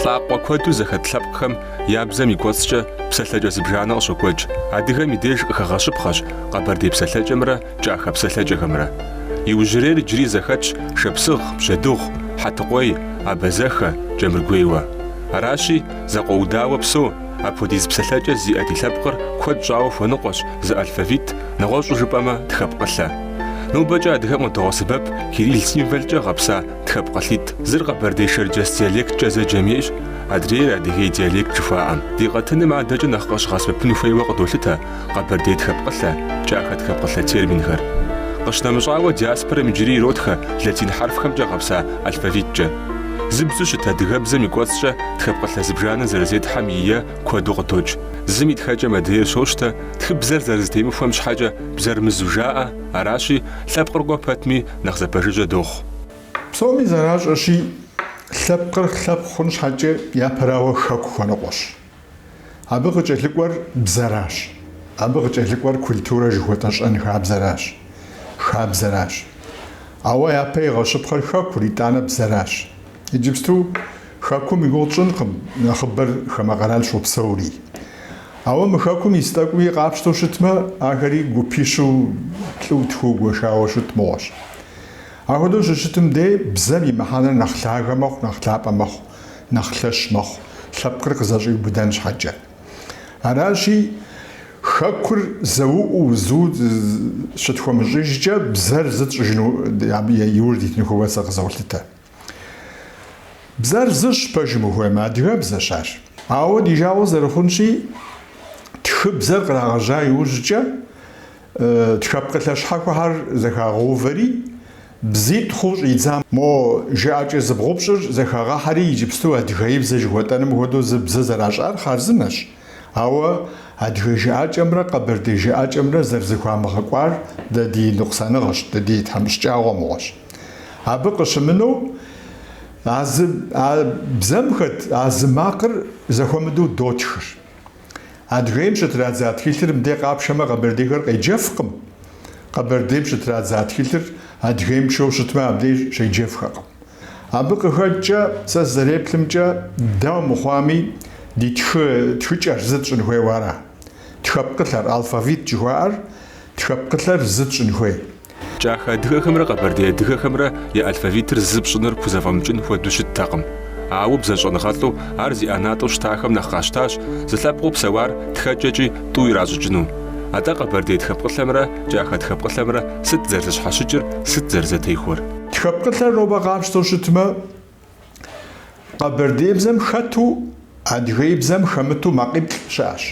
Лӏакъуэ куэду зэхэт лъэпкъхэм я бзэм и кӏуэцӏкӏэ псалъэкӏэ зыбжанэ къыщокӏуэкӏ. Адыгэм и деж къыхэгъэщыпхъэщ къэбэрдей псалъэкӏэмрэ кӏахэ псалъэкӏэхэмрэ. Иужьрейр иджыри зэхэтщ шапсыгъ, бжьэдыгъу, хьэтыкъуей, абазэхэ, кӏэмыргуейуэ. Аращи, зэкъуэудауэ псэу Апхуэдиз псалъэкӏэ зиӏэ ди лъэпкъыр куэд щӏауэ хуэныкъуэщ зы алфавит, нэгъуэщӏу жыпӏэмэ тхэпкъылъэ. Нобэкӏэ адыгэм къыдогъэсэбэп кирилл символкӏэ гъэпса тхэпкъылъитӏ. Зыр къэбэрдей-шэрджэс диалекткӏэ зэджэм ейщ, адрейр Адыгей диалект жыхуаӏэм. Ди къэтыным адэкӏэ нэхъ къыщыгъэсэбэпын хуейуэ къыдолъытэ. Къэбэрдей тхэпкъылъэ, кӏахэ тхэпкъылъэ терминхэр. Къыщынэмыщӏауэ, диаспорэм иджыри иротхэ латин хьэрфхэмкӏэ гъэпса алфавиткӏэ. Зы бзэу щыт адыгэбзэм и кӏуэцӏкӏэ тхэпкъылъэ зыбжанэ зэрызетхьэм и е куэду къыдокӏ. Зым и тхэкӏэм адрейр щощтэ, тхыбзэр зэрызэтемыхуэм щхьэкӏэ бзэр мызу жаӏэ, аращи, лъэпкъыр кӏуэ пэтми, нэхъ зэпэжыжьэ дохъу. Псоми зэращӏэщи, лъэпкъыр лъэпкъ хъун щхьэкӏэ япэрауэ хэку хуэныкъуэщ. Абы къыкӏэлъыкӏуэр бзэращ. Абы къыкӏэлъыкӏуэр культурэ жыхуэтӏэ щэнхабзэращ, хабзэращ. Ауэ япэ игъэщыпхъэр хэкур, итӏанэ бзэращ. Иджыпсту хэкум и гугъу тщӏынкъым, нэхъыбэр хамэ къэрал щопсэури. Ауэ мы хэкум ис тӏэкӏуи къапщтэу щытмэ, ахэри гупищу плӏыу, тхууэ гуэшауэ щыт мыгъуэщ. Ахуэдэу щыщытым дей бзэм и мыхьэнэр нэхъ лъагэ мэхъу, нэхъ лъапӏэ мэхъу. нэхъ лъэщ мэхъу, лъэпкъыр къызэщӏиубыдэн щхьэкӏэ. Аращи, хэкур зэуӏуу, зу щытхуэмыщӏыжкӏэ, бзэр зы тщӏыжыну, абы иужь дитыну хуейуэ сэ къызолъытэ. Бзэр зыщ, пэжым ухуеймэ, адыгэбзэщ ар. Ауэ ди жагъуэ зэрыхъунщи, тхыбзэр кърагъэжьа иужькӏэ, Тхэпкъылъэ щхьэхуэхэр зэхагъэувэри, бзитӏ хъуу щӏидзам. Мо жыӏэкӏэ зыбгъупщӏыр зэхагъэхьэри, иджыпсту адыгеибзэ жыхуэтӏэным хуэдэу зы бзэ зэращӏар хъарзынэщ. Ауэ адыгэ жыӏэкӏэмрэ къэбэрдей жыӏэкӏэмрэ зэрызэхуамыгъэкӏуар дэ ди ныкъусаныгъэщ, дэ ди тхьэмыщкӏагъуэ мыгъуэщ. Абы къыщымынэу, а зы, а бзэм хэт а зы макъыр зэхуэмыдэу дотхыр. Адыгейм щытрадза тхылъыр мыдей къапшэмэ къэбэрдейхэр къеджэфкъым, къэбэрдейм щытрадза тхылъыр Адыгейм пшэу щытмэ абдей щеджэфхэкъым. Абы къыхэкӏкӏэ сэ сызэреплъымкӏэ, дауэ мыхъуами ди тхы тхыкӏэр зы тщӏын хуейуэ ара? Тхэпкъылъэр, алфавит жыхуаӏэр, тхэпкъылъэр зы тщӏын хуей. Кӏахэ адыгэхэмрэ къэбэрдей адыгэхэмрэ я алфавитыр зы пщӏыныр пхузэфӏэмыкӏын хуэдэу щыттэкъым. Ауэ бзэщӏэныгъэлӏу ар зи ӏэнатӏэу щытахэм нэхъ къащтащ зы лъэпкъыу псэуар тхэкӏэкӏи тӏу иращӏыкӏыну. Атӏэ къэбэрдей тхэпкъылъэмрэ кӏахэ тхэпкъылъэмрэ сыт зэрызэщхьэщыкӏыр, сыт зэрызэтехуэр? Тхэпкъылъэр нобэ къапщтэу щытмэ, Къэбэрдейбзэм хэту адыгейбзэм хэмыту макъиплӏ щыӏэщ.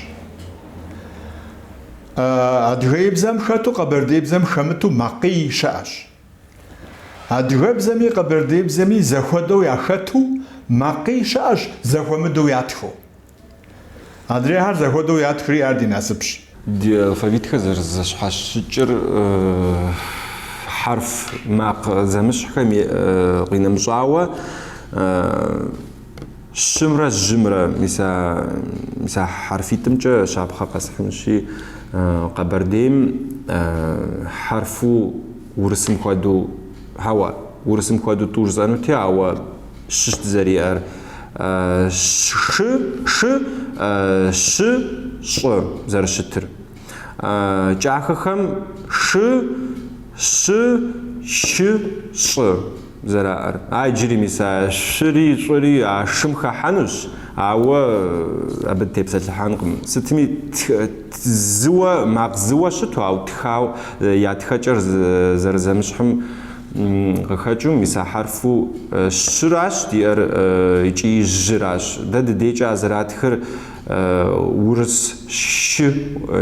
Адыгейбзэм хэту къэбэрдейбзэм хэмыту макъий щыӏэщ. Адыгэбзэми къэбэрдейбзэми зэхуэдэу яхэту макъий щыӏэщ, зэхуэмыдэу ятхыу. Адрейхэр зэхуэдэу ятхри, ар ди насыпщ. Ди алфавитхэр зэрызэщхьэщыкӏыр хьэрф, макъ зэмыщхьхэм къинэмыщӏауэ щымрэ жьымрэ, мис а мис а хьэрфитӏымкӏэ щапхъэ къэсхьынщи, Къэбэрдейм хьэрфу урысым хуэдэу, хьэуэ, урысым хуэдэу тӏу жысӏэнути, ауэ, щыщ дызэриӏэр. Шы, шы, щы, щӏы зэрыщытыр. Кӏахэхэм шы, щы, щы, щӏы зэраӏэр. А иджыри мис а шъури щӏыри а шым хэхьэнущ, ауэ абы тепсэлъыхьэнкъым. Сытми, зыуэ, макъ зыуэ щыту, ауэ тхауэ, я тхэкӏэр зэрызэмыщхьым, къыхэкӏыу мис а хьэрфу щыращ диӏэр икӏи жьыращ. Дэ ди дейкӏэ а зэратхэр урыс щы,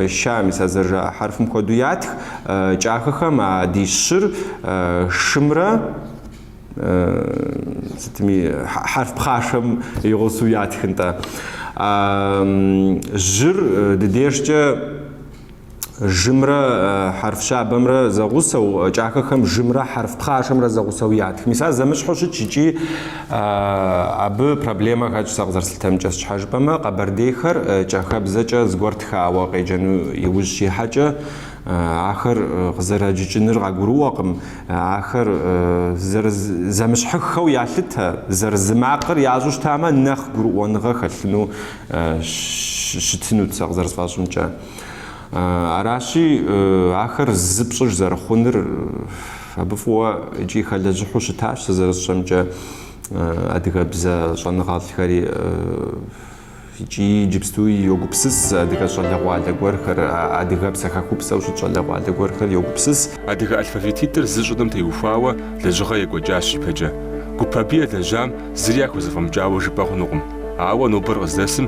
ща, мис а зэрыжаӏэ хьэрфым хуэдэу ятх. Кӏахэхэм а ди щыр шымрэ сытми хьэрф пхъашэм и гъусэу ятх, нтӏэ. Жьыр ди дежкӏэ жымрэ хьэрф щабэмрэ зэгъусэу, кӏахэхэм жымрэ хьэрф пхъашэмрэ зэгъусэу ятх. Мис ар зэмыщхьу щытщ икӏи абы проблемэ хэтщ, сэ къызэрыслъытэмкӏэ. Сщхьэ жыпӏэмэ, къэбэрдейхэр кӏахэбзэкӏэ зыгуэр тхауэ къеджэну иужь щихьэкӏэ, ахэр къызэрэджыкӏыныр къагурыӏуэкъым, ахэр зэмыщхьыххэу ялъытэ, зэрызы макъыр ящӏэу щытамэ, нэхъ гурыӏуэныгъэ хэлъыну щытынут, сэ къызэрысфӏэщӏымкӏэ. Аращи, ахэр зы пщӏыж зэрыхъуныр абы фӏыуэ икӏи хэлэжьыхьу щытащ, сэ зэрысщӏэмкӏэ, адыгэбзэ щӏэныгъэлӏхэри икӏи иджыпстуи йогупсыс, адыгэ щӏалэгъуалэ гуэрхэр, адыгэпсэ хэкупсэу щыт щӏалэгъуалэ гуэрхэр йогупсыс. Адыгэ алфавититӏыр зы щӏыным теухуауэ лэжьыгъэ екӏуэкӏащ ипэкӏэ. Гуп абы елэжьам зыри яхузэфӏэмыкӏауэ жыпӏэ хъунукъым. Ауэ нобэр къыздэсым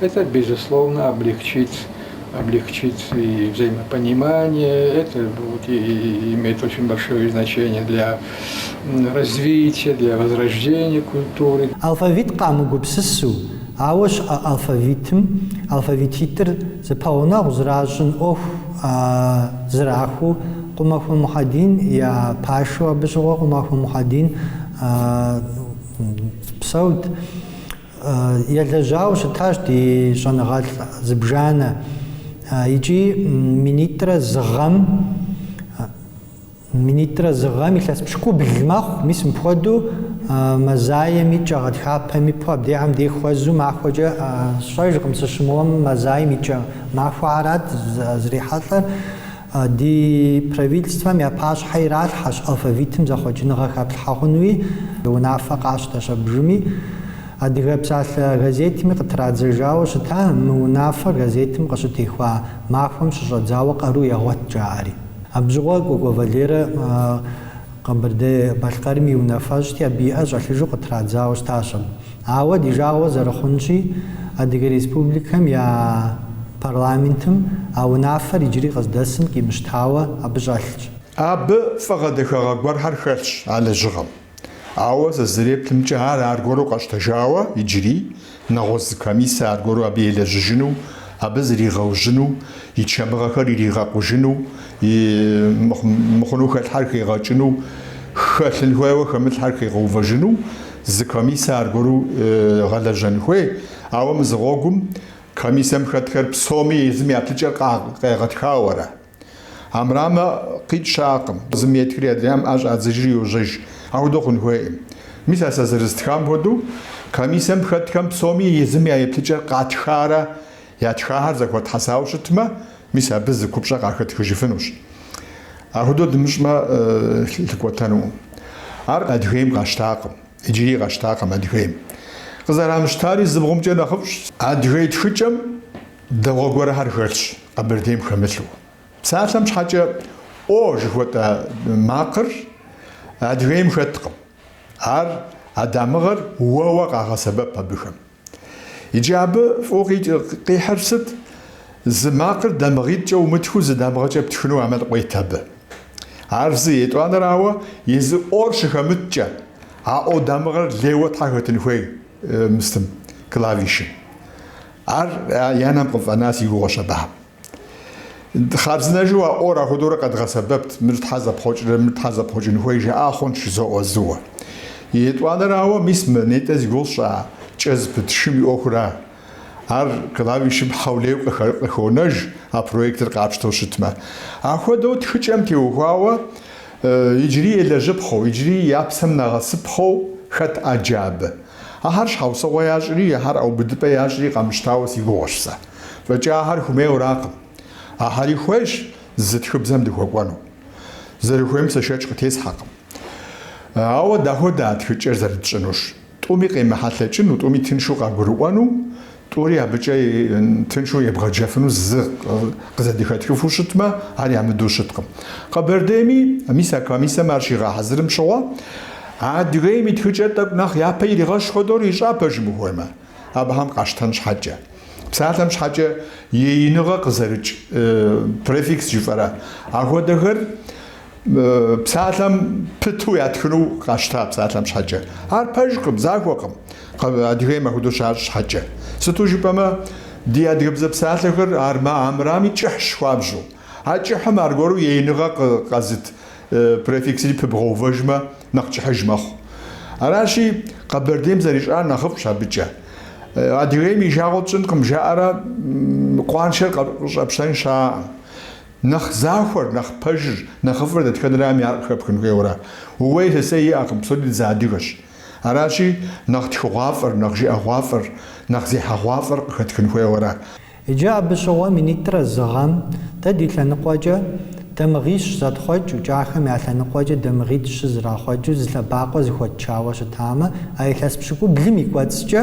Это, безусловно, облегчит, облегчит и взаимопонимание, это будет и иметь очень большое значение для развития, для возрождения культуры. Алфавит къамыгупсысу, ауэ щыӏэ алфавитым, алфавититӏыр зэпэгъунэгъу зращӏын ӏуэху зрахуэу Къумахуэ Мухьэдин я пашэу абы щыгъуэ Къумахуэ Мухьэдин псэут. Елэжьауэ щытащ ди щӏэныгъэлӏ зыбжанэ икӏи минитӏрэ зы гъэм минитӏрэ зы гъэм илъэс пщыкӏубл мэхъу, мис мыпхуэдэу мазаем и кӏэ гъэтхапэм и пэ абдехьэм дех хуэзу махуэкӏэ сщӏэжкъым, сыщымыуэм мазаем и кӏэ махуэхьэрат зрихьэлӏэр. Ди Правительствэм я пащхьэ иралъхьэщ алфавитым зэхъуэкӏыныгъэ хэплъхьэ хъуну и унафэ къащтэщ абжыми, Адыгэ псалъэ газетми къытрадзэжауэ щыта, мы унафэ газетым къыщытехуа махуэм щыщӏэдзауэ къару егъуэт, жаӏэри. Абжьыгъуэ Кӏуэкӏуэ Валерэ Къэбэрдей-Балъкъэрым и унафэщӏти, абы и ӏэ щӏэлъыжу къытрадзауэ щытащ абы. Ауэ ди жагъуэ зэрыхъунщи, Адыгэ Республикэм я парламентым а унафэр иджыри къыздэсым къимыщтауэ абы щӏэлъщ. Абы фӏыгъэ дахагъэ гуэрхэр хэлъщ а лэжьыгъэм. Ауэ сызэреплъымкӏэ, ар аргуэру къэщтэжауэ иджыри, нэгъуэщӏ зы комиссэ аргуэру абы елэжьыжыну, абы зригъэужьыну, и чэмыгъэхэр иригъэкъужыну, и мыхъуну хэлъхьэр хигъэкӏыну, хэлъын хуейуэ хэмылъхьэр хигъэувэжыну зы комиссэ аргуэру гъэлэжьэн хуей. Ауэ мызыгъуэгум комиссэм хэтхэр псоми езым я плъыкӏэр къегъэтхауэрэ. Армырамэ къикӏ щыӏэкъым, зым етхри адрейм ӏэ щӏадзыжри йожьэж. Ахуэдэу хъун хуейкъым. Мис а сэ зэрыстхам хуэдэу, комиссэм хэтхэм псоми езым я еплъыкӏэр къатхарэ, Ятхахэр зэхуэтхьэсауэ щытмэ, мис абы зы купщӏэ къахэтхыжыфынущ. Ахуэдэу дымыщӏмэ, лъыкӏуэтэнукъым. Ар Адыгейм къащтакъым, иджыри къащтакъым Адыгейм. Къызэрамыщтари зыбгъумкӏэ нэхъыфӏщ. Адыгей тхыкӏэм дэгъуэ гуэрхэр хэлъщ, Къэбэрдейм хэмылъу. Псалъэм щхьэкӏэ О жыхуэтӏэ макъыр Адыгейм хэткъым. Ар, а дамыгъэр, уэуэ къагъэсэбэп абыхэм. Иджы абы фӏыуэ къихьыр сыт? Зы макъыр дамыгъитӏкӏэ умытхыу зы дамыгъэкӏэ птхыну ӏэмал къует абы. Ар зы, етӏуанэрауэ, езы О-р щыхэмыткӏэ, а О дамыгъэр лейуэ щхьэ хэтын хуей мыстым, клавишым. Ар я нэм къыфӏэна си гугъуэщ абыхэм. Хъарзынэжу а ӏуэр ахуэдэурэ къэдгъэсэбэпт, мыр щхьэ зэпхъуэкӏрэ, мыр щхьэ зэпхъуэкӏын хуей жаӏа хъунщ, жызоӏэ, зыуэ. Етӏуанэрауэ, мис мо нетӏэ зи гугъу сщӏа кӏэ зыпыт шым и ӏуэхура. Ар клавишым хьэулейу къыхонэж, а проектыр къапщтэу щытмэ. Ахуэдэу тхыкӏэм теухуауэ иджыри елэжьыпхъэу, иджыри я псэм нэгъэсыпхъэу хэт ӏэджэ абы. Ахьэр щхьэусыгъуэ ящӏри, ахьэр ӏэубыдыпӏэ ящӏри къэмыщтауэ си гугъэщ сэ. Фӏэкӏи ахьэр хумейуэракъым. Ахьэри хуейщ зы тхыбзэм дыхуэкӏуэну. Зэрыхуейм сэ шэч къытесхьэкъым. Ауэ дахуэдэ а тхыкӏэр зэрытщӏынур? Тӏуми къемыхьэлъэкӏыну, тӏуми тыншу къагурыӏуэну, тӏури абыкӏэ тыншу ебгъэджэфыну зы къызэдыхэтхыфу щытмэ, ар ямыдэу щыткъым. Къэбэрдейми, мис а комиссэм ар щигъэхьэзырым щыгъуэ, Адыгейм и тхыкӏэр тӏэкӏу нэхъ япэ иригъэщ хуэдэу ищӏа, пэжым ухуеймэ. Абыхьэм къащтэн щхьэкӏэ. Псалъэм щхьэкӏэ еиныгъэ къызэрыкӏ префикс жыфӏэрэ. Ахуэдэхэр псалъэм пыту ятхыну къащта псалъэм щхьэкӏэ. Ар пэжкъым, захуэкъым, Адыгейм ахуэдэу щащӏ щхьэкӏэ. Сыту жыпӏэмэ, ди адыгэбзэ псалъэхэр арм, армырами кӏыхьщ хуабжьу. А кӏыхьым аргуэру еиныгъэ къэзыт префиксри пыбгъэувэжмэ, нэхъ кӏыхьыж мэхъу. Аращи, Къэбэрдейм зэрищӏар нэхъыфӏщ абыкӏэ. Адыгейм и жагъуэ тщӏынкъым жаӏэрэ къуаншэр къыщӏэпщтэн щаӏым. Нэхъ захуэр, нэхъ пэжыр, нэхъыфӏыр дэтхэнэрами ар къыхэпхын хуейуэра. Ууей-сысей иӏэкъым, псори дызыадыгэщ. Аращи, нэхъ тхыгъуафӏэр, нэхъ жыӏэгъуафӏэр, нэхъ зехьэгъуафӏэр къыхэтхын хуейуэра. Иджы абы щыгъуэ минитӏрэ зы гъэм дэ ди лъэныкъуэкӏэ дамыгъищ зэтхъуэкӏыу кӏахэм я лъэныкъуэкӏэ дамыгъитӏ-щы зэрахъуэкӏыу зы лъэбакъуэ зыхуэтчауэ щытамэ, а илъэс пщыкӏублым и кӏуэцӏкӏэ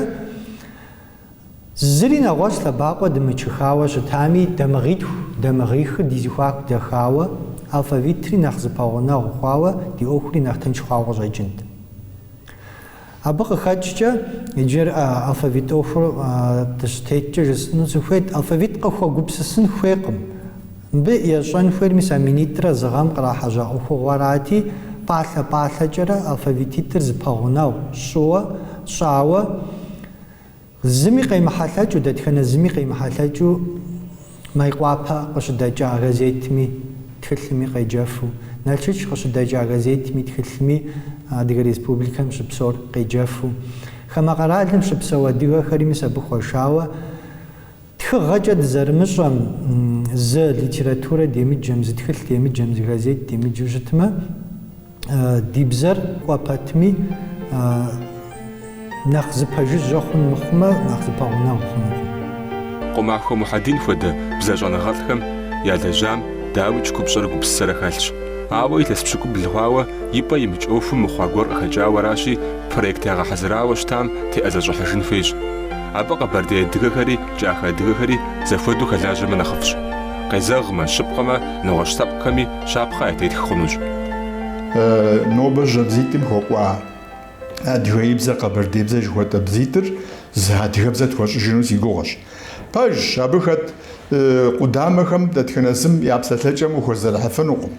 зыри нэгъуэщӏ лъэбакъуэ дымычыхауэ щытами, дамыгъитху, дамыгъихыр ди зыхуаку дэхауэ, алфавитри нэхъ зыпэгъунэгъу хъуауэ, ди ӏуэхури нэхъ тынш хъуауэ къыщӏэкӏынт. Абы къыхэкӏкӏэ иджыр алфавит ӏуэхур дыщытеткӏэ жысӏэну сыхуейт. Алфавит къыхуэгупсысын хуейкъым. Мыбы ещӏэн хуейр мис а минитӏрэ зы гъэм кърахьэжьа ӏуэхугъуэрати, пӏалъэ-пӏалъэкӏэрэ алфавититӏыр зыпэгъунэгъу щӏыуэ, щӏауэ, Зыми къемыхьэлъэкӏыу, дэтхэнэ зыми къемыхьэлъэкӏыу Майкъуапэ къыщыдэкӏа газетми тхылъми къеджэфу, Налшыч къыщыдэкӏа газетми тхылъми Адыгэ Республикэм щыпсэур къеджэфу, хамэ къэралым щыпсэу адыгэхэри мис абы хуэшауэ Тхыгъэкӏэ дызэрымыщӏэм, зы литературэ демыджэм, зы тхылъ демыджэм, зы газет демыджэу щытмэ, ди бзэр кӏуэ пэтми, нэхъ зыпэжыжьэ хъун мыхъумэ, нэхъ зыпэгъунэгъу хъунукъым. Къумахуэ Мухьэдин хуэдэ бзэ щӏэныгъэлӏхэм ялэжьам дауикӏ купщӏэрэ гупсысэрэ хэлъщ. Ауэ илъэс пщыкӏубл хъуауэ и пӏэ имыкӏ ӏуэхум мыхъуа гуэр къыхэкӏауэ аращи, проект ягъэхьэзырауэ щытам теӏэзэщӏыхьыжын хуейщ. Абы къэбэрдей адыгэхэри кӏахэ адыгэхэри зэхуэдэу хэлажьэмэ нэхъыфӏщ. Къезэгъмэ, щыпкъэмэ, нэгъуэщӏ лъэпкъхэми щапхъэ ятетх хъунущ. Нобэ жьэбзитӏым хуэкӏуа адыгейбзэ, къэбэрдейбзэ жыхуэтӏэ бзитӏыр зы адыгэбзэ тхуэщӏыжыну си гугъэщ. Пэжщ, абы хэт къудамэхэм дэтхэнэ зым я псэлъэкӏэм ухэзэрыхьыфынукъым.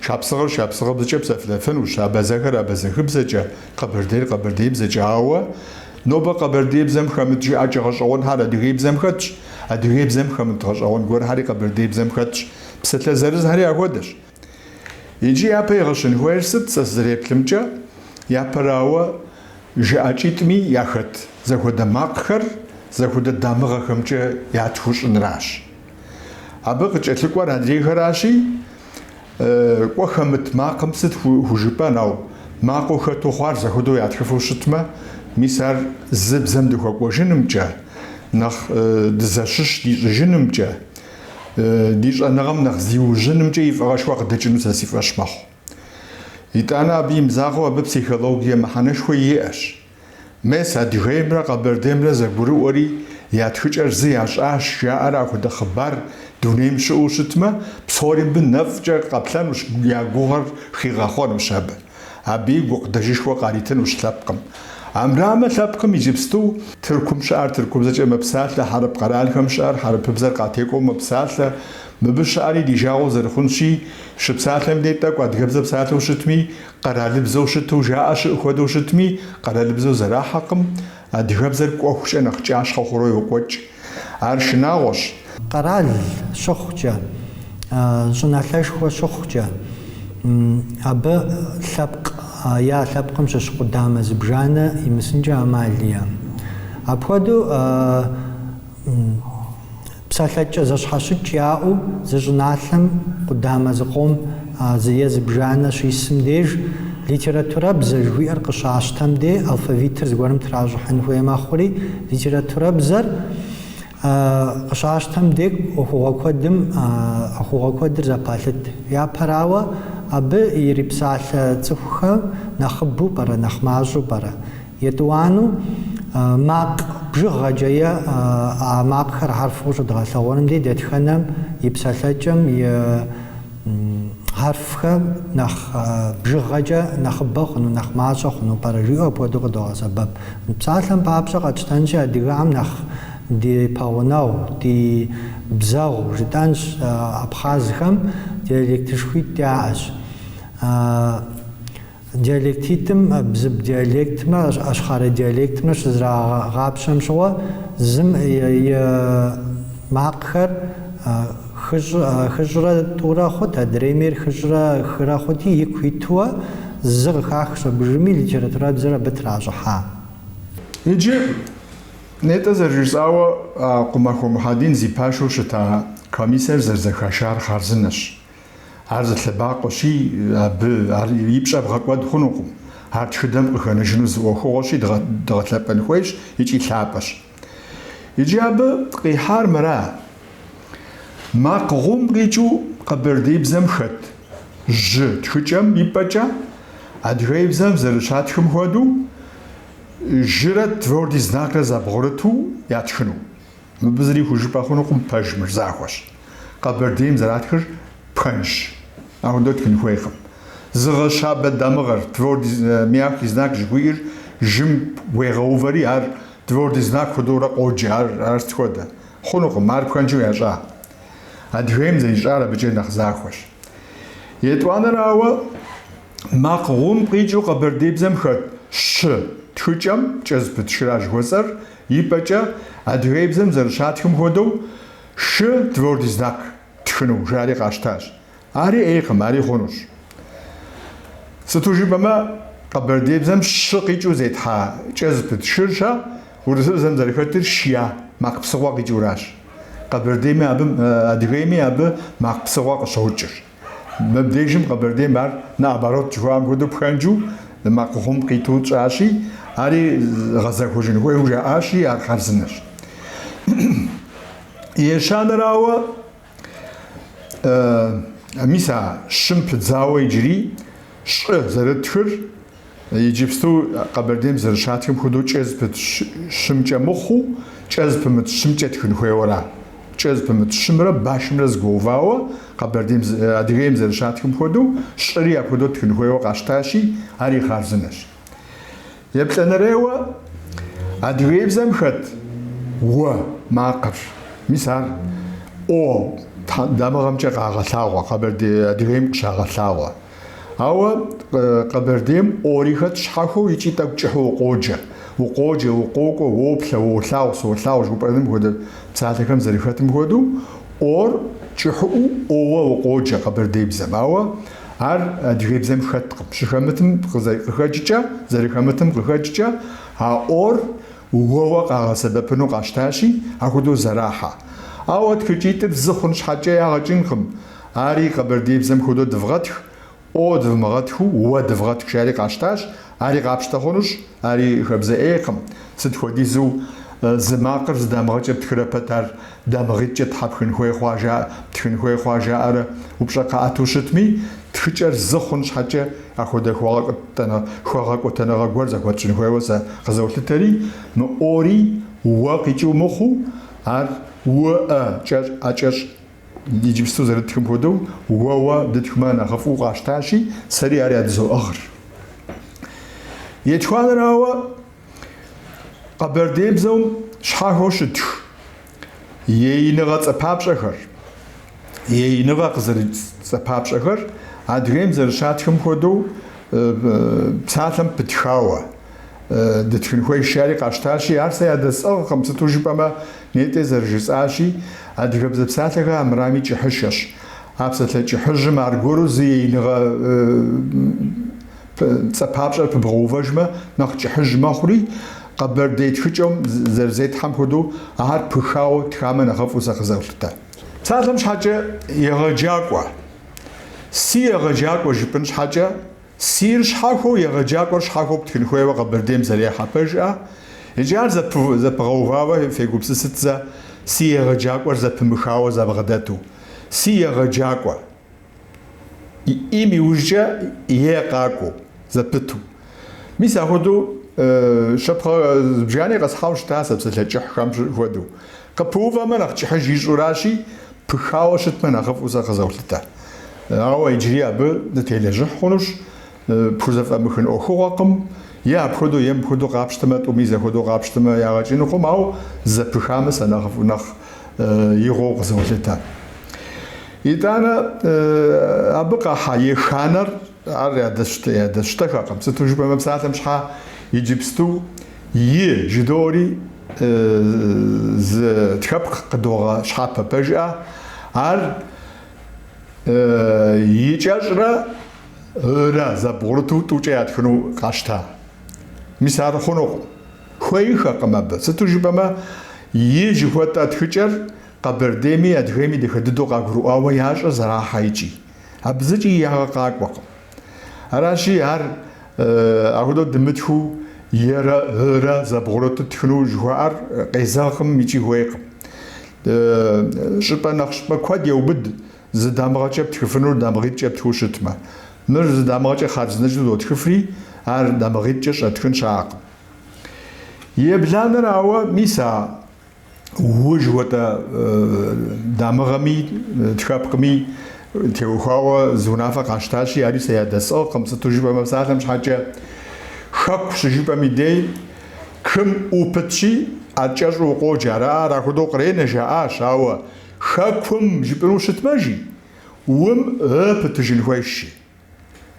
Шапсыгъыр шапсыгъыбзэкӏэ псэлъэфынущ, абэзэхэр абэзэхыбзэкӏэ, къэбэрдейр къэбэрдейбзэкӏэ, ауэ Нобэ къэбэрдеибзэм хэмыт жыӏэкӏэ гъэщӏэгъуэнхэр адыгейбзэм хэтщ, адыгейбзэм хэмыт гъэщӏэгъуэн гуэрхэри къэбэрдеибзэм хэтщ, псалъэ зырызхэри ахуэдэщ. Иджы япэ игъэщын хуейр сыт, сэ сызэреплъымкӏэ, япэрауэ, жыӏэкӏитӏми яхэт зэхуэдэ макъхэр зэхуэдэ дамыгъэхэмкӏэ ятхыу щӏыныращ. Абы къыкӏэлъыкӏуэр адрейхэращи, кӏуэ хэмыт макъым сыт хужыпӏэн, ауэ макъыу хэту хъуар зэхуэдэу ятхыфу щытмэ, мис ар зы бзэм дыхуэкӏуэжынымкӏэ, нэхъ дызэщыщ дищӏыжынымкӏэ, ди щӏэныгъэм нэхъ зиужьынымкӏэ и фӏыгъэшхуэ къыдэкӏыну сэ си фӏэщ мэхъу. Итӏанэ абы имызакъуэу абы психологие мыхьэнэшхуэ иӏэщ. Мес Адыгеймрэ Къэбэрдеймрэ зэгурыӏуэри, я тхыкӏэр зы ящӏащ, жаӏэрэ апхуэдэ хъыбар дунейм щыӏэу щытмэ, псори мыбы нэфӏкӏэ къэплъэнущ, я гугъэр хигъэхъуэнущ абы. Абыи гукъыдэжышхуэ къаритынущ лъэпкъым. Амрамэ, лъэпкъым иджыпсту Тыркум щыӏэр тыркубзэкӏэ мэпсалъэ, хьэрып къэралхэм щыӏэр хьэрыпыбзэр къатекӏуэу мэпсалъэ. Мыбы щыӏэри ди жагъуэ зэрыхъунщи, щыпсалъэм дей тӏэкӏу адыгэбзэ псалъэу щытми, Къэралыбзэу щыту жаӏэ щыӏэ хуэдэу щытми, къэралыбзэу зэрахьэкъым, адыгэбзэр кӏуэхукӏэ нэхъ кӏащхъэ хъуру йокӏуэкӏ. Ар шынагъуэщ. Къэрал щыхъукӏэ, щӏыналъэшхуэ щыхъукӏэ, абы лъэпкъ, е а лъэпкъым щыщ къудамэ зыбжанэ имысынкӏэ ӏэмал иӏэм. Апхуэдэу. Псалъэкӏэ зэщхьэщыкӏ яӏэу зы щӏыналъэм къудамэ зыкъом зы е зыбжанэ щисым деж литературэбзэ жыхуиӏэр къыщащтэм де алфавитыр зыгуэрым тращӏыхьын хуей мэхъури, литературэбзэр къыщащтэм де ӏуэхугъуэ куэдым ӏуэхугъуэ куэдыр зэпалъыт. Япэрауэ, абы ирипсалъэ цӏыхухэм нэхъыбэу пӏэрэ, нэхъ мащӏэу пӏэрэ? Етӏуанэу макъ бжыгъэкӏэ е а макъхэр хьэрфхэу щыдгъэлъэгъуэным дей дэтхэнэм и псалъэкӏэм и хьэрфхэм нэхъ бжыгъэкӏэ нэхъыбэ хъуну, нэхъ мащӏэ хъуну пӏэрэ жиӏэу апхуэдэу къыдогъэсэбэп. Псалъэм папщӏэ къэтщтэнщи, адыгэхэм нэхъ ди пэгъунэгъу, ди бзэгъу жытӏэнщ, абхъазхэм диалектышхуитӏ яӏэщ. Диалектитӏым бзып диалектмрэ, ашхъэрэ диалектмрэ щызэрагъапщэм щыгъуэ, зым и макъхэр хыщӏрэ тӏурэ хъут, адрейм ейр хыщӏрэ хырэ хъути, ику итуэ зы къыхахщ, абы иужьым и литературабзэр абы тращӏыхьа. Иджы, нетӏэ зэрыжысӏауэ, Къумахуэ Мухьэдин зи пашэу щыта комиссэр зэрызэхашар хъарзынэщ. Ар зы лъэбакъуэщи, абы ар и пщӏэ бгъэкӏуэд хъунукъым. Ар тхыдэм къыхэнэжыну зы ӏуэхугъуэщи, дгъэлъэпӏэн хуейщ икӏи лъапӏэщ. Иджы абы къихьар мыра: макъ гъум къикӏыу къэбэрдеибзэм хэт жьы тхыкӏэм и пӏэкӏэ, адыгеибзэм зэрыщатхым хуэдэу, жырэ твердый знакрэ зэбгъурыту ятхыну. Мыбы зыри хужыпӏэ хъунукъым, пэж мыр захуэщ. Къэбэрдейм зэратхыр пхэнжщ, апхуэдэу тхын хуейкъым. Зыгъэщабэ дамыгъэр, твердый мягкий знак жыхуиӏэр, жым уегъэувэри ар твердый знак хуэдэурэ къоджэ, ар ар сыт хуэдэ? Хъунукъым, ар пхэнжу ящӏа. Адыгейм зэрищӏар абыкӏэ нэхъ захуэщ. Етӏуанэрауэ, макъ гъум къикӏыу къэбэрдейбзэм хэт щы тхыкӏэм кӏэ зыпыт шыра жыхуэсӏэр Ипӏэкӏэ, адыгейбзэм зэрыщатхым хуэдэу, шы, твердый знак, тхыну, жари къащтащ. Ари ӏейкъым, ари хъунущ. Сыту жыпӏэмэ, къэбэрдейбзэм щы къикӏыу зетхьа кӏэ зыпыт шыр ща, урысыбзэм зэрыхэтыр шья, макъ псыгъуэ къикӏыуращ. Къэбэрдейми абы, адыгейми абы макъ псыгъуэ къыщокӏыр. Мыбдежым Къэбэрдейм ар наоборот жыхуаӏэм хуэдэу пхэнжу макъ гъум къиту тщӏащи, ари гъэзэхуэжын хуейуэ жаӏащи, ар хъарзынэщ. Ещанэрауэ, мис а щым пыдзауэ иджыри щӏы зэрытхыр, Иджыпсту Къэбэрдейм зэрыщатхым хуэдэу кӏэ зыпыт щымкӏэ мыхъуу, кӏэ зыпымыт щымкӏэ тхын хуейуэра. Кӏэ зыпымыт щымрэ башымрэ зэгуэувауэ, Къэбэрдейм, Адыгейм зэрыщатхым хуэдэу, щӏыри апхуэдэу тхын хуейуэ къащтащи, ари хъарзынэщ. Еплӏанэрейуэ, адыгеибзэм хэт уэ макъыр, мис ар о дамыгъэмкӏэ къагъэлъагъуэ, Къэбэрдей, Адыгейм къыщагъэлъагъуэ. Ауэ Къэбэрдейм ори хэт щхьэхуэу икӏи тӏэкӏу кӏыхьу укъоджэ. Укъоджэ, укъокӏуэ, уоплъэ, уолъагъу, солъагъу жыхуэпӏэным хуэдэ псалъэхэм зэрыхэтым хуэдэу, ор кӏыхьыӏуу оуэ укъоджэ къэбэрдейбзэм. Ауэ ар адыгейбзэм хэткъым. Щыхэмытым къыхэкӏкӏэ, зэрыхэмытым къыхэкӏкӏэ а ор уэуэ къагъэсэбэпыну къащтащи, ахуэдэу зэрахьэ. Ауэ тхыкӏитӏыр зы хъун щхьэкӏэ ягъэ кӏынкъым. Ари къэбэрдейбзэм хуэдэу дывгъэтх, о дывмыгъэтхыу, уэ дывгъэтх, жари къащтащ. Ари къапщтэ хъунущ, ари хэбзэ ӏейкъым. Сыт хуэдизу зы макъыр зы дамыгъэкӏэ птхырэ пэт ар дамыгъитӏкӏэ щхьэ птхын хуей хъуа жа, птхын хуей хъуа жаӏэрэ упщӏэ къаӏэту щытми, тхыкӏэр зы хъун щхьэкӏэ апхуэдэ хуэгъэкӏуэтэныгъэ гуэр зэхуэтщӏын хуейуэ сэ къызолъытэри, мы ори уэ къикӏыу мыхъуу, ар уэ, э кӏэщӏ, э кӏэщӏ. Иджыпсту зэрыдытхым хуэдэу уэуэ дытхмэ нэхъыфӏу къащтащи, сэри ар ядызоӏыгъыр. Етхуанэрауэ, къэбэрдейбзэум щхьэхуэу щытх еиныгъэ цӏэпапщӏэхэр, еиныгъэ къызэрыкӏ цӏэпапщӏэхэр Адыгейм зэрыщатхым хуэдэу псалъэм пытхауэ, Дытхын хуейщ, жари къащтащи, ар сэ ядэсӏыгъкъым, сыту жыпӏэмэ, нетӏэ зэрыжысӏащи, адыгэбзэ псалъэхэр армырами кӏыхьыщэщ. А псалъэ кӏыхьыжьым аргуэру зы еиныгъэ цӏэ папщӏэр пыбгъэувэжмэ, нэхъ кӏыхьыж мэхъури, къэбэрдей тхыкӏэм зэрызетхьэм хуэдэу, ар пыхауэ тхамэ нэхъыфӏу сэ къызолъытэ. Псалъэм щхьэкӏэ егъэджакӏуэ. Си егъэджакӏуэ жыпӏын щхьэкӏэ, Сир щхьэхуэу егъэджакӏуэр щхьэхуэу птхын хуейуэ Къэбэрдейм зэрехьэ пэжыӏэ, иджы ар зэпыгъэувауэ фегупсысыт зэ, Си егъэджакӏуэр зэпымыхауэ зэбгъэдэту. Си егъэджакӏуэ. Им иужькӏэ е къакӏуэу, зэпыту. Мис ахуэдэу щэпхъэ зыбжани къэсхьауэ щыта сэ псалъэ кӏыхьхэм щыхуэдэу. Къыпыувэмэ, нэхъ кӏыхьыж ищӏуращи, пыхауэ щытмэ, нэхъыфӏу сэ къызолъытэ. Ауэ иджыри абы дытелэжьыхь хъунущ, пхузэфӏэмыхын ӏуэхугъуэкъым, е апхуэдэу, е мыпхуэдэу къапщтэмэ, тӏуми зэхуэдэу къапщтэмэ, ягъэ кӏынукъым, ауэ зэпыхамэ, сэ нэхъыфӏу нэхъ игъуэу къызолъытэ. Итӏанэ, абы къахьа еханэр Ар ядэсщтэхэкъым, сыту жыпӏэмэ псалъэм щхьа иджыпсту и жыдори зы тхэпкъ къыдогъэщхьэпэ пэжыӏэ, ар и кӏэщӏрэ ырэ зэбгъурыту тӏукӏэ ятхыну къащта. Мис ар хъунукъым, хуейхэкъым абы, сыту жыпӏэмэ и жыхуэтӏэ тхыкӏэр Къэбэрдейми Адыгейми дахэ дыдэу къагурыӏуауэ ящӏэ зэрахьэ икӏи. Абы зыкӏи ягъэ къакӏуэкъым. Аращи, ар ахуэдэу дымытхыу е-рэ ы-рэ зэбгъурэ тытхыну жыхуаӏэр къезэгъкъым икӏи хуейкъым. Щӏыпӏэ нэхъ щӏыпӏэ куэд еубыд зы дамыгъэкӏэ птхыфынур дамыгъитӏкӏэ птхыу щытмэ. Мыр зы дамыгъэкӏэ хъарзынэкӏэу зотхыфри, ар дамыгъитӏкӏэ щӏэтхын щаӏэкъым. Ебланэрауэ, мис а уы жыхуэтӏэ дамыгъэми, тхэпкъми теухуауэ зы унафэ къащтащи, ари сэ ядэсӏыгъкъым, сыту жыпӏэмэ псалъэм щхьэкӏэ Хэку щыжыпӏэм и дей кым ӏу пытщи, ар кӏэщӏу укъоджэ, ара ар ахуэдэу къренэ, жаӏащ, ауэ Хэкум жыпӏэну щытмэ, жи, ум ы пытыжын хуейщ, жи.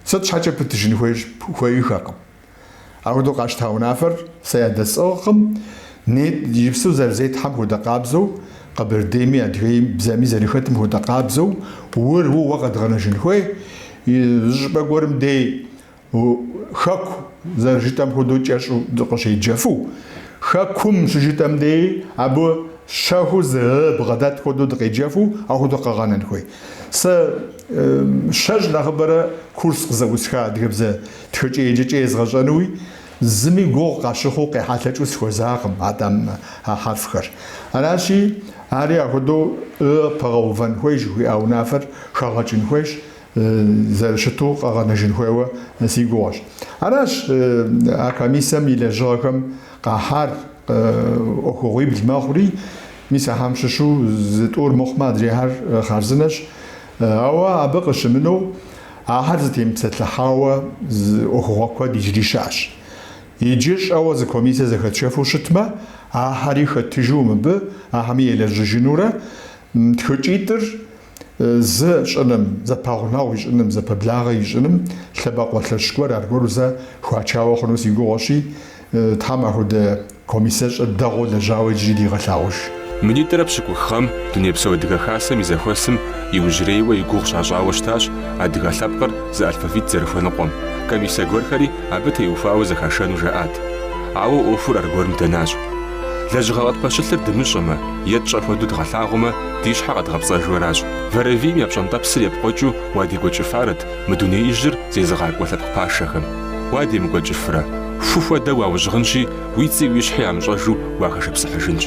Сыт щхьэкӏэ пытыжын хуейщ, хуеиххэкъым. Ахуэдэу къащта унафэр сэ ядэсӏыгъкъым, нетӏ, иджыпсту зэрызетхьэм хуэдэ къабзэу, Къэбэрдейми, Адыгейм, бзэми зэрыхэтым хуэдэ къабзэу, ур ууэ къэдгъэнэжын хуей, зы щӏыпӏэ гуэрым дей Хэку зэрыжытӏэм хуэдэу кӏэщӏу дыкъыщеджэфу, Хэкум щыжытӏэм деи абы щэхуу зы ы бгъэдэт хуэдэу дыкъеджэфу ахуэдэу къэгъэнэн хуей. Сэ щэщӏ нэхъыбэрэ курс къызэӏусха адыгэбзэ тхыкӏэ-еджэкӏэ езгъэщӏэнуи, зыми гугъу къащыхъуу къехьэлъэкӏыу сыхуэзакъым а тӏэм а хьэрфхэр. Аращи, ари ахуэдэу ы пэгъэувэн хуейщ жыхуиӏа унафэр хэгъэкӏын хуейщ, зэрыщыту къэгъэнэжын хуейуэ си гугъэщ. Аращ а комиссэм и лэжьыгъэхэм къахьар ӏуэхугъуибл мэхъури, мис ахьэм щыщу зы тӏур мыхъумэ, адрейхьэр хъарзынэщ. Ауэ абы къыщымынэу, ахьэр зытемыпсэлъыхьауэ ӏуэхугъуэ куэд иджыри щыӏэщ. Иджы щӏэуэ зы комиссие зэхэтшэфу щытмэ, ахьэри хэтыжу мыбы, ахьэми елэжьыжынурэ, тхыкӏитӏыр зы щӏыным, зэпэгъунэгъу ищӏыным, зэпэблагъэ ищӏыным лъэбакъуэ лъэщ гуэр аргуэру зэ хуачауэ хъуну си гугъуэщи, Тхьэм ахуэдэ комиссиещӏэр дэгъуэу лэжьауэ иджыри дигъэлъагъуж. Минитӏрэ пщыкӏух гъэм Дунейпсо Адыгэ Хасэм и зэхуэсым иужьрейуэ и гугъу щащӏауэ щытащ адыгэ лъэпкъыр зы алфавит зэрыхуэныкъуэм, комиссэ гуэрхэри абы теухуауэ зэхашэну жаӏат. Ауэ ӏуэхур аргуэрым дэнащ. Лэжьыгъэ къытпэщылъыр дымыщӏэмэ е тщӏэ хуэдэу дгъэлъагъумэ, ди щхьэ къэдгъэпцӏэжу аращ. Вэрэвийм я пщӏэнтӏэпсыр епкъуэкӏыу уадекӏуэкӏыфарэт мы дунеижьыр зезыгъакӏуэ лъэпкъ пашэхэм. Уадемыкӏуэкӏыфрэ, ху хуэдэу уаужьыгъынщи, уи цӏи уи щхьи ямыщӏэжу уахэшыпсыхьыжынщ.